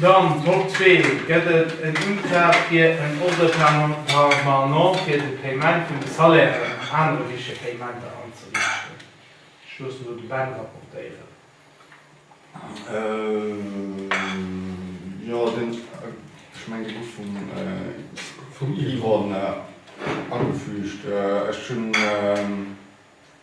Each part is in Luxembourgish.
Dann, Top 2, gëtt et en Untrag fir en Ordre permanent fir de Paiement vun de Salairen an anere wichtege Paiementer anzeriichten. Ech loossen elo de Ben rapportéieren. Jo, deen, ech mengen, dee gouf vum Yvonne agefüügt. Ech hunn.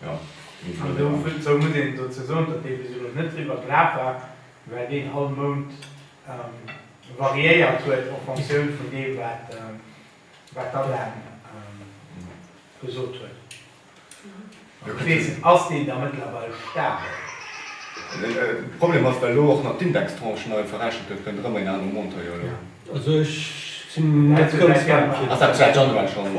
An dozou muss een dozou soen, datt dee bis elo net driwwer grad war, well deen all Mount variéiert huet en Fonctioun vun deem, wat d'ADEM gesot huet. Ech weess net, ass deen da mëttlerweil stabel? De Problem ass, well elo och nach d'Indextranche nei verrechent gëtt, kënnt erëm en anere Montant jo elo. Also ech sinn net ganz warm. Ass dat säit Januar schonn?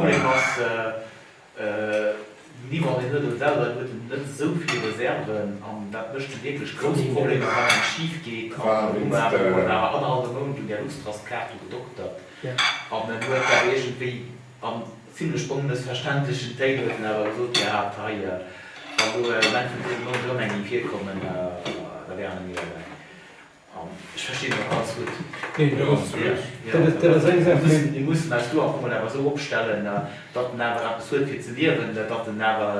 Ni wann een net ewell huet, huet en net esou vill Reserven an dat mécht jo wierklech grouss Problemer, wann eppes schif geet an en huet awer annerhallwe Mount un där Luxtrust-Kaart do gedoktert an en huet dat iergendwéi an zimlech onmëssverständlechen Téin huet en awer gesot gehat, hei wann do elo um Enn vun dësem Mount erëm eng géif virkommen, da wären en iwwerwäi. Ech verstinn nach ganz gutt. Nee, dat ass zu Recht. Dat ass, dat ass eng Saach, mä. Mir mussen eis do einfach mol awer esou opstellen, datt en awer eppes huet fir ze liewen, datt en awer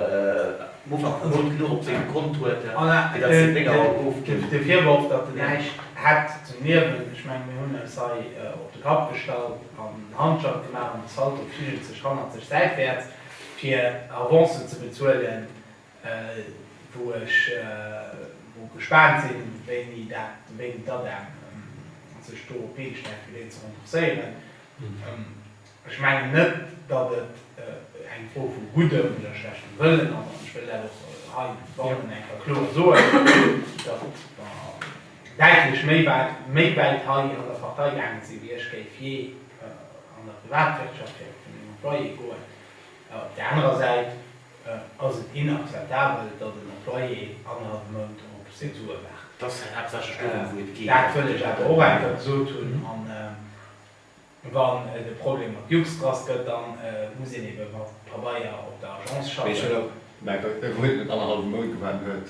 um Ufank vum Mount genuch op sengem Kont huet, fir datt seng Dénger och ofginn. De Virworf, datt en näischt hätt zum Liewen, ech mengen, mir hunn eis hei op de Kapp gestallt an en Handschalt gemaach an de Salto figelt sech hannertlech säitwäerts, fir Avancen ze bezuelen, wou ech wou gespaant sin wéini dat wéini d'ADEM sech do op d'Been stellt fir deen ze renforcéieren. Ech mengen net datt et eng Fro vu guddem oder schlechtem Wëllen ass an ech wëll dat och hei bannen enker kloer soen, datt mer däitlech méi wäit méi wäit hei an der Partei gaange si wéi ech géif jee an der Privatwirtschaft fir vun den Employé goen. Op där anerer Säit ass et inakzeptabel, datt en Employé annerhallef Mount op seng Sue waart. Dat wëll ech awer och einfach gesot hunn. A wann et e Problem mat Luxtrust gëtt, da muss een ebe mat Pabeier op der Agence schaffen. Mee ech hunn och. Mee e wou net annerhallef Mount gewaart huet,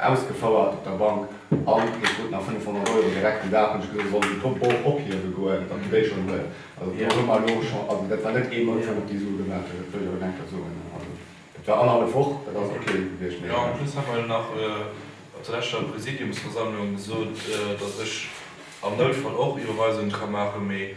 ausgefouert op der Bank an hie krut nach 500 Euro direkt den Dag hunn ech gesot ech soll déi Pompel och ophiewe goen, datt hie déi schonn huet. Also do hu mer elo schonn, also dat war net ee Mount wou mer déi Sue gemaach hunn, dat wëll ech awer eng Kéier soen. Also dat war annerhallef Woch, dat ass ok gewiescht, mee en plus hat mer jo nach op der leschter Präsidiumsversammlung gesot, datt ech am Noutfall och Iwwerweisungen ka maachen, mee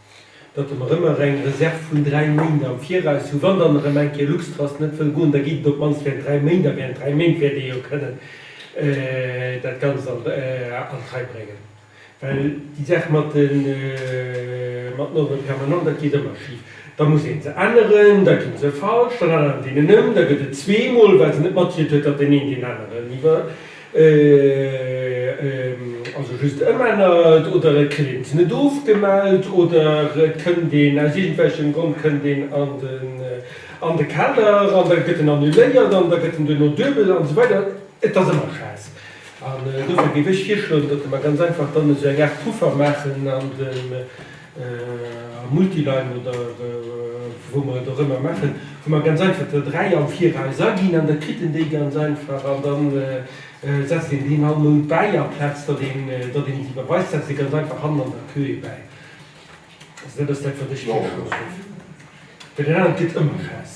datt der mer ëmmer eng Reserv vun dräi Méint am Viraus hu wann dann erëm eng Kéier Luxtrust net wëll goen, da geet et op d'mannst während dräi Méint a während dräi Méint wäert Dir jo kënnen dat Ganzt an d'Rei bréngen. Well déi Saach mat den Ordre permanent, dat geet ëmmer schif, da muss ee se änneren, da ginn se falsch, dann ännert een en ëm, da gëtt et zweemol, well se net mathielt huet, datt deen een deen aneren iwwer. Also just ëmännert oder et kënnt een net ofgemellt oder et kënnt een aus iergendwelchem Grond kënnt een an den an de Kader an da gëtt en annuléiert an da gëtt en duerno duebel an esou weider. Et ass ëmmer Schäiss an dofir géif ech virschloen, datt mer ganz einfach dann esou eng Aart Puffer maachen an dem Am Multiline oder wou mer et och ëmmer maachen, hu mer ganz einfach der dräi am Viraus aginn an da kritt een déi ganz einfach an da setzt een deen all Mount bäi. Amplaz datt een déi iwwerweist, setzt ee ganz einfach hannen an der Queue ee bäi. Also dat ass dat, wat ech gär gemaach hunn, well dat anert gëtt ëmmer Chaos.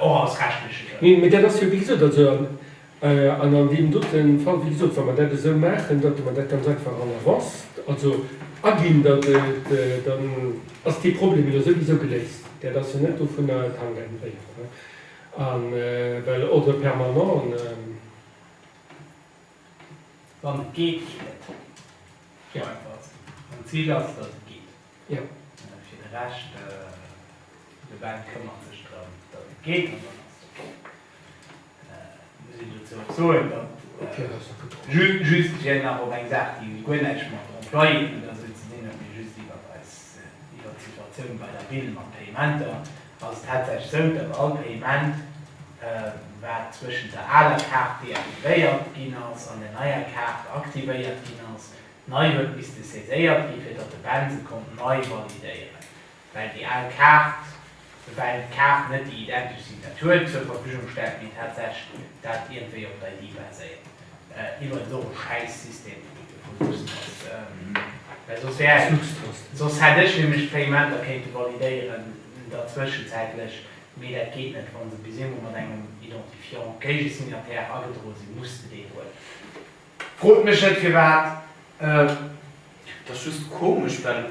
och alles rechtleche Grënn. Neen, mä dat ass jo, wéi gesot, also an, an an deem dote Fall, wéi gesot, wa mer dat esou maachen, datt mer dat ganz einfach en avance, also aginn, datt et, dann ass dee Problem jo souwisou geléist. Dat ass jo net dovunner, et hankt eng Bréif dran, a well Ordre permanent. Wann et geet, geet et. Esou einfach ass et. An d'Zil ass, datt et geet. Jo, fir de Rescht, de Ben këmmert sech drëm, datt et kee Kanner ass dobäi. Muss een dozou och soen, datt just, fir nach op eng Saach, déi guer näischt mat Employéen oder esou ze dinn huet, mee just iwwert eis, iwwert d'Situatioun bei der Ville mat Payementer, ass et tatsächlech esou, datt all Payement, wat zwëschent der aler Kaart deaktivéiert ginn ass an der neier Kaart aktivéiert ginn ass, Nei huet misste saiséiert gi fir datt de Ben se konnt nei validéieren, well déi al Kaart, well d'Kaart net déi identesch Signatur zur Verfügung stellt, mee tatsächlech dat iergendwéi op der ID baséiert. Iwwerens och e schäiss System, wou et dovun wosst, datt, well soss wär et, soss hätt ech nämlech d'Payementer kéinte validéieren der zwëschenzäitlech, mee dat geet net, wa se bis eemol mat engem Identifiant, Géigesignataire, agedroe sinn, muss de deen huelen. Frot mech net firwat, et ass just komesch, well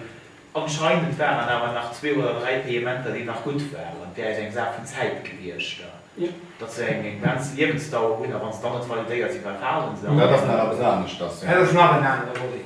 anscheinend waren awer nach zwee oder dräi Payementer, déi nach gutt waren. Et wär eis eng Saach vun Zäit gewiescht, datt se eng begrenzt Liewensdauer hunn, a wann se dann net validéiert sinn, da falen se. Dat ass nach eppes aneschters, jo. Dat ass nach en anere Volet.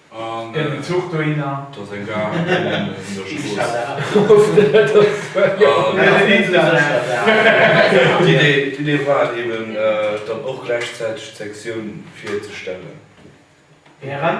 Gëllen Zuch dohinner. Dass eng Gare kënnen un der Strooss. D'Idee war et eben dann och gläichzäiteg d'Sektioun fir ze stellen. Während.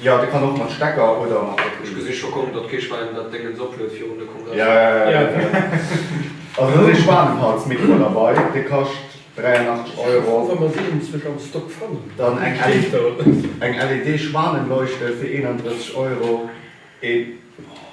Jo de kann och mat Stecker oder mat Batterie. Ech gesi scho kommen datt kee Schwäin dat Déngens opluet virun de Kongress. Also et ass ee Schwanenhals Mikro derbei, dee kascht 83 Euro. Dann eng LED Schwanenleuchte fir 31 Euro.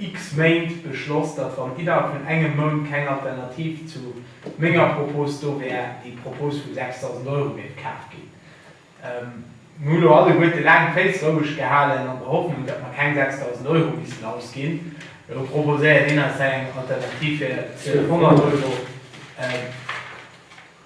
x Méint beschloss, datt wann innerhalb vun engem Mount keng Alternativ zu menger Propos do wär, déi Propos vu 6.000 Euro géif kaf ginn. Mir hu lo alleguerte laang d'Féiss roueg gehalen an der Hoffnung, datt mer keng 6.000 Euro missten ausginn. Elo proposéiert een eis hei eng Alternativ fir 1.200 Euro.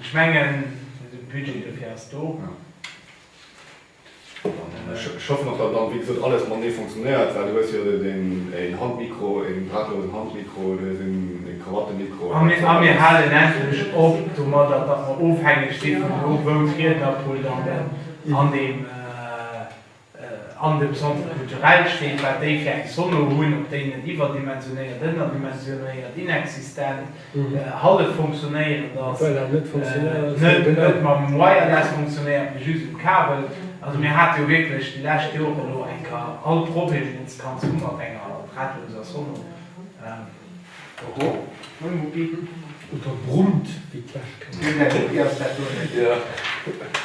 Ech mengen, de Budget dofir ass do. Ja. Ech hoffen och, datt dann, wéi gesot, alles matenee funktionéiert, well du hues jo een Handmikro, een drahtlosen Handmikro, du hues een Krawattemikro. A mir halen endlech op domadder, datt mer ofhängeg si vun do, wou d'Riednerpult an deem. An dem Centre culturel steet, wat déi fir eng Sono hunn, ob déi net iwwerdimensionéiert, ënnerdimensionéiert, inexistent, hallef funktionéierend ass, net mam Wireless funktionéiert, mee just um Kabel. Also mir hate jo wierklech déi lescht Jore elo eng Ka all Problem, deen ze kanns hu mat enger drahtloser Sono. Oho, moin Mucki. Oder brummt, wéi d'Fläschkëscht. Deen där Mucki ass dat do net.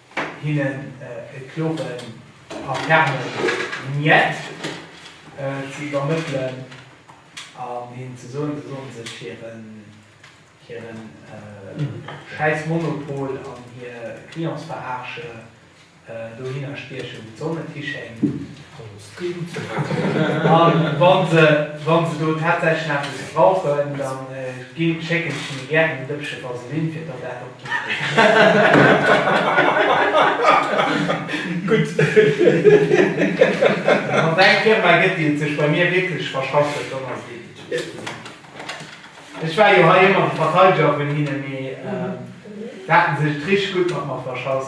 Hinnen e kloren a fermen Njet ze iwwermëttelen an hinnen ze soen, se sollen sech hire schäiss Monopol an hir Clientsverarsche dohinner stiechen, wou d'Sonn net hischéngt. A wa se do tatsächlech nach eppes brauchen, da schécken ech hinne gären en Dëppche Vaseline, fir datt dat och gutt gëtt. Wann et eng Firma gëtt, déi et sech bei mir wierklech verschafft huet, dann ass et eben d'Jus Cosmétiques. Ech war jo hei ëmmer de Verteideger vun hinnen, mee se haten sech et richteg gutt mat mer verschass.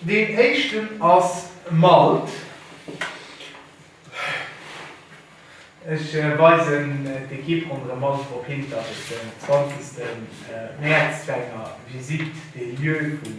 Deen éischten ass Malt. Ech weisen d'Ekipp ronderëm Malt drop hin, datt et den 20 Mäerz zu enger Visite des lieux vun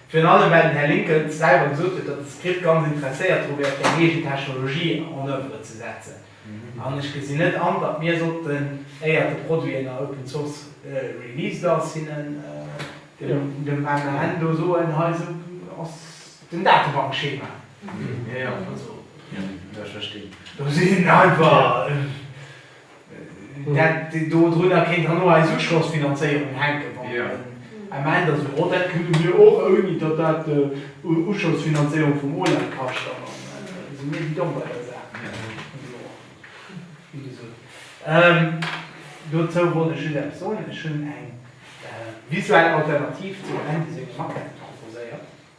Virun allem well den Här Lincoln selwer gesot huet, datt de Script ganz interesséiert dru wär, fir eng eegen Technologie en oeuvre ze setzen. An ech gesinn net an, datt mir sollten, éiert de Produit en a Open Source released ass, hinnen dem MAN do soen, hei esou ass den Datebankschema. Do sinn einfach. Dat do drunner kéint dann och eis Uschossfinanzéierung hänken, wann et en Ament ass. Mä dat kënne mir och, ouni datt dat d'Uschossfinanzéierung vum OLAP kascht. Dann si mir guidon bei der Saach vun do an, wéi gesot. Dozou wollt ech just eppes soen, Ech hunn eng visuell Alternativ zum Andy sengem Maquette proposéiert.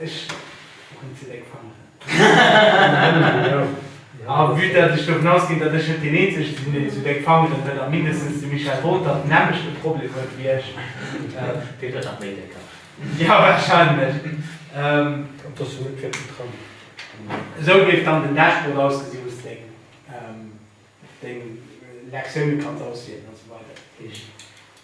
Ech hunn ze déck Fangeren. A vue datt ech dovun ausginn, datt ech net deen eenzege sinn, deen zu déck Fangeren huet, a mindestens de Michel Rother den nämmlechte Problem huet wéi ech. Deen huet nach méi déck Haut. Jo, wahrscheinlech. Et ass jo net fir ze trëmmen. Esou géif dann den Dashboard ausgesinn, wou s de deng Lektioune kanns auswielen, a sou weider.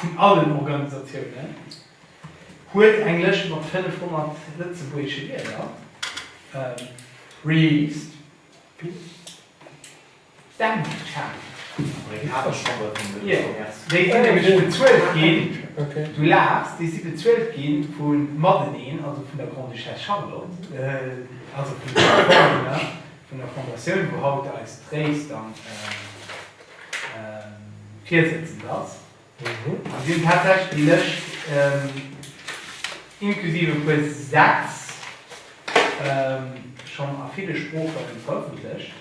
vun allen Organisatiounen huet eng Lëscht mat 500 lëtzebuergesche Wierder released. Déi sinn nämlech bezuelt ginn, du laachs, déi si bezuelt gi vu mateneen, also vun der Grande-Duchesse Charlotte, also vun de Sponsoren, vun der Fondatioun, wou haut eis Tréischt an. virsëtzend ass, a sinn tatsächlech déi Lëscht, inklusiv e puer Sätz, schonn a ville Sprooche verëffentlecht.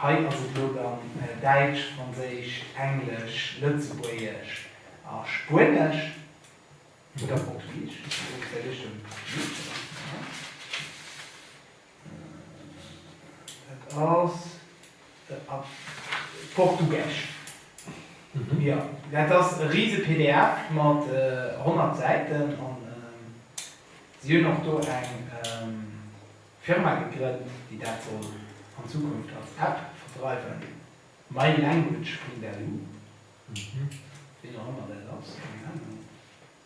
Hei ass et elo dann Däitsch, Franséisch, Englesch, Lëtzebuergesch a Spuenesch oder Portugisesch. Et ass a Portugesch. Jo, dat ass e rise pdf mat 100 Säiten an si hunn och do eng Firma gegrënnt, déi dat soll an Zukunft als App verdreiwen, mylanguage.lu, wien och ëmmer dat ass, keng Ahnung.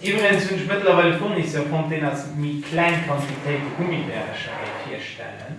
Iwwregens hunn ech mëttlerweil e Fournisseur fonnt, deen eis méi kleng Quantitéite Gummibärecher géif hierstellen.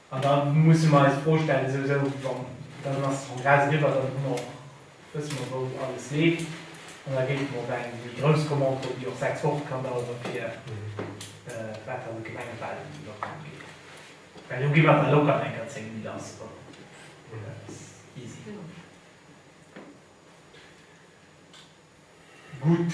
An da musse mer eis d'Fro stellen, esou, esou, wann, dann ass de Kongress eriwwer, dann hu mer och, wësse mer, wou alles leeft, an da géife mer op eng méi grouss Commande kommen, déi och sechs Woche kann dauere fir wat dann de Gemengewahlkampf ugeet. Well do gi mer da locker an enker zéng Méint lass, oder eppes, easy. Gutt.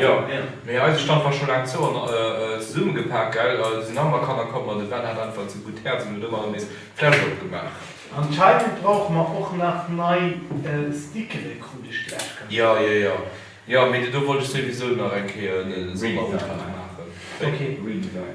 Jo mee eise Stand war scho laang zou an zesummegepaakt gell, et sinn nach emmer Kanner komm an de Ben hat einfach ze gudd Häerz an huet emmer nees d'Fläsch opgemaach. Anscheinend brauche mer och nach nei Stickere krut ech gläich gemellt. Jo jo jo jo mee do wollt ech souwisou nach eng Kéier en Sonderantrag maachen. Wéi? Redesign.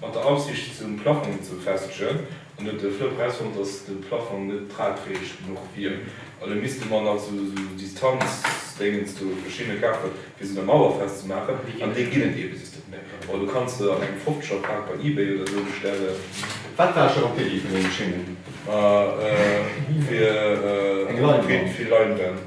Mat der Aussiicht zum Plafong ze befestegen an huet de Flëpp erausfonnt, datt de Plafong net tragfäeg genuch wier. An da misste mer nach esou Distanzdéngens do, verschidde kafen, fir se un der Mauer festzemaachen. An déi ginn et eebesoss net méi. Bon, du kanns se an engem Fofzeger Pak bei eBay oder esou bestellen. Wat war scho op der Iddi vun deene Schéngen? Ma, hu fir eng Leinwand.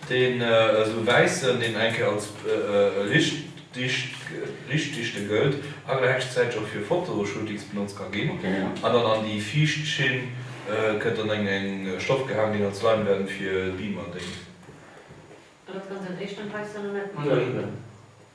Deen esou wäissen, deen eng Kéier als riichtdichte gëllt, awer gläichzäiteg och fir Fotoshootings benotzt ka ginn, an dann an déi viischt Schinn gëtt dann eng eng Stoff gehaangen, deen als Leinwand fir Beamer déngt. An dat kanns de an éischten Preis dann och net mat.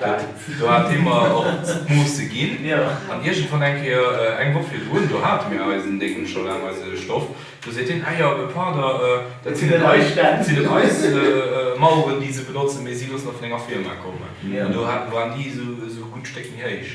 Well do hat dee mer och d'Moosse ginn. An iergendwann eng Kéier, eng Woch virdrun, do hate mir eisen Déngen scho laang, eise Stoff. Do seet hien, Ah jo, e Pardon, dat sinn net eis, dat sinn net eis Maueren, déi se benotzen, mee si loossen der vun enger Firma kommen. An do waren déi esou e gutt Stéck méi héich.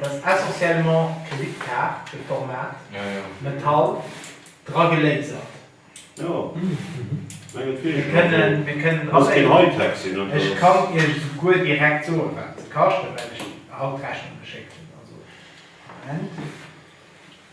Dat ass essentiellement d'Kreditkaart, de Format, Metall, dra gelasert. Mir kënnen alle, ech kann Iech souguer direkt soen, wat se kaschten, well ech haut d'Rechnung geschéckt hunn.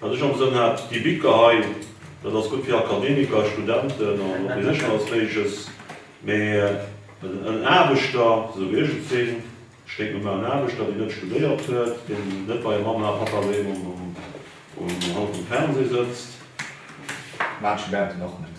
Wat ech am Sënn hat, déi Biker hei, dat ass gutt fir Akademiker, Studenten an och wéi sech alles Méigleches, mee en Aarbechter, esou wéi ech et sinn, ech kéint mir malen, en Aarbechter, deen net studéiert huet, deen net bei Mamma a Pappa doheem um Hang vum Fernseh sëtzt. Maachen Studenten och net.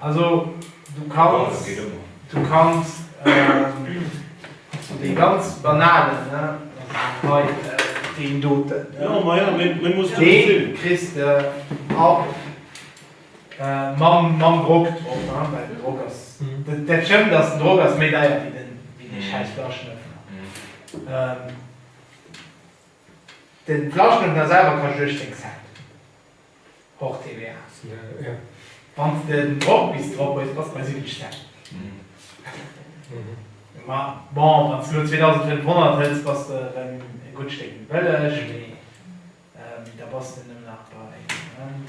Also du kanns, du kanns dee ganz banalen, hei deen doten, dee kriss de ab mam Drock drop, well den Drock ass, dat stëmmt, dass den Drock ass méi deier wéi dee schäiss Flaschenöffner. De Flaschenöffner selwer kascht 18 Cent. Hors TVA. Wann s de den Drock bis drop hues, bass de bei 7 Stäck. Ma bon, wann s de elo 2.500 hëls, bass de erëm e gutt Stéck méi bëlleg, mee da bass de nëmmen nach bei, Moment.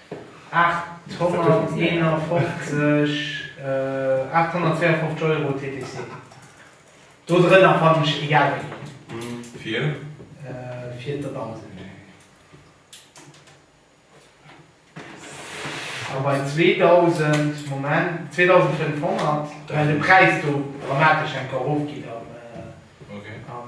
851, 852 Euro TTC. Do drënner fannen ech egal wéi een. Fir? Fir d'Demande. A bei 2000, Moment, 2500, well de Präis do dramatesch enker erofgeet am, am.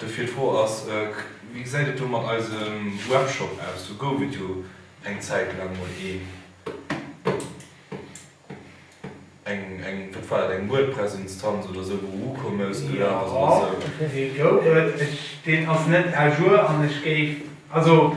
Dofir d'Fro ass, Wéi gesäit et do mat eisem Webshop aus? Do gouf et jo eng Zäit laang mol een, eng, eng, wat war dat, eng WordPress-Instanz oder esou, wou WooCommerce gelaf ass oder esou. Jo, dee gouf et. Ech, deen ass net à jour an ech géif, also.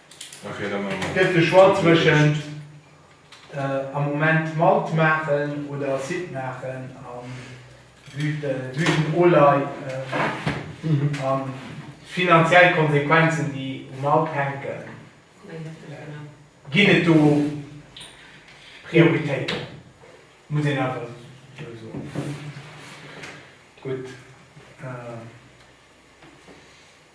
Gëtt de Choix zwëschent am Moment Malt maachen oder Acide maachen a Blütenolei a finanziell Konsequenzen déi um Malt hänken, ginn et do Prioritéiten? Muss een einfach esou soen. Gutt.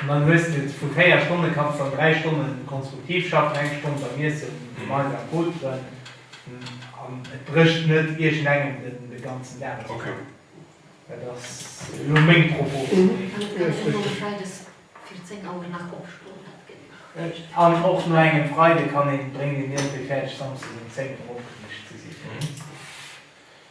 An dann hues de vu 4 Stonne kanns de an 3 Stonne konstruktiv schaffen, eng Stonn beim Iessen, gemeinsam am Poteren an et brécht net iergendengem de ganzen Dag aus dem Kapp. Dat ass elo meng Propos vun deem. An et kann een elo e Freides fir 10 Auer nach opstoen, dat geet nach. An och no engem Freide kann een, bréngt een iergendwéi fäerdeg, samsdes um 10 Auer opgeriicht ze sinn.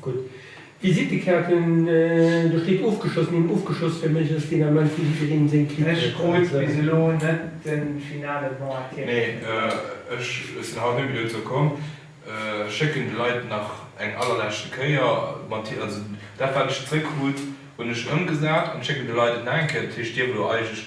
Gutt. Visittekaarten, do steet ofgeschoss, mir hunn ofgeschoss fir méiglechst deen Ament wou jiddereen seng Clique huet. Ech krut bis elo net de finale Bon à Terre vum Joer. Ech sinn haut Nomëtte dozou komm. Ech schécken de Leit nach eng allerleschte Kéier mat, also dat wat ech zeréckkrut hunn ech ëmgesat an schécken de Leit et nach eng Kéier. Dat heescht, dierf elo eigentlech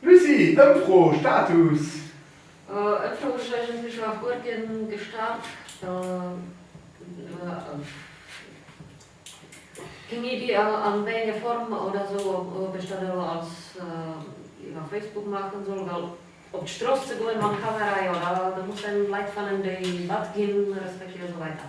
Lucie, Ëmfro, Status? Ëmfro hu ech eigentlech nach guer keen gestart. Keng Iddi an wéi enger Form oder esou, ob ech dat elo als iwwer Facebook maachen soll, well op d'Stross ze goen mam Kamera, jo da muss een Leit fannen déi mat ginn respektiv esou weider.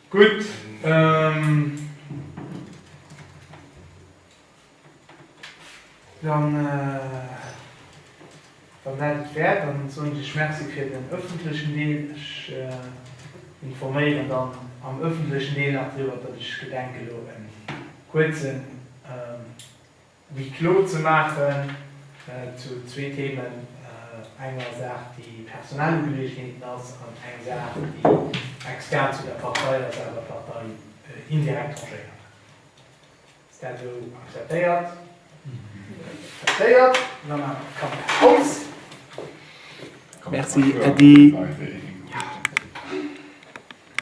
Gutt, dann, wann dat et wär, dann soen ech lech Merci fir den ëffentlechen Deel. Ech informéieren dann am ëffentlechen Deel nach driwwer, datt ech gedenke elo en kuerzen, Wéi klo ze maachen zu zwee Themen, enger Saach déi personell Ugeleegenheeten ass an eng Saach déi extern zu der Partei ass, awer d'Partei indirekt tangéiert. Ass dat esou akzeptéiert? Akzeptéiert. Dann maache mer d'Kamera aus. Merci Äddi.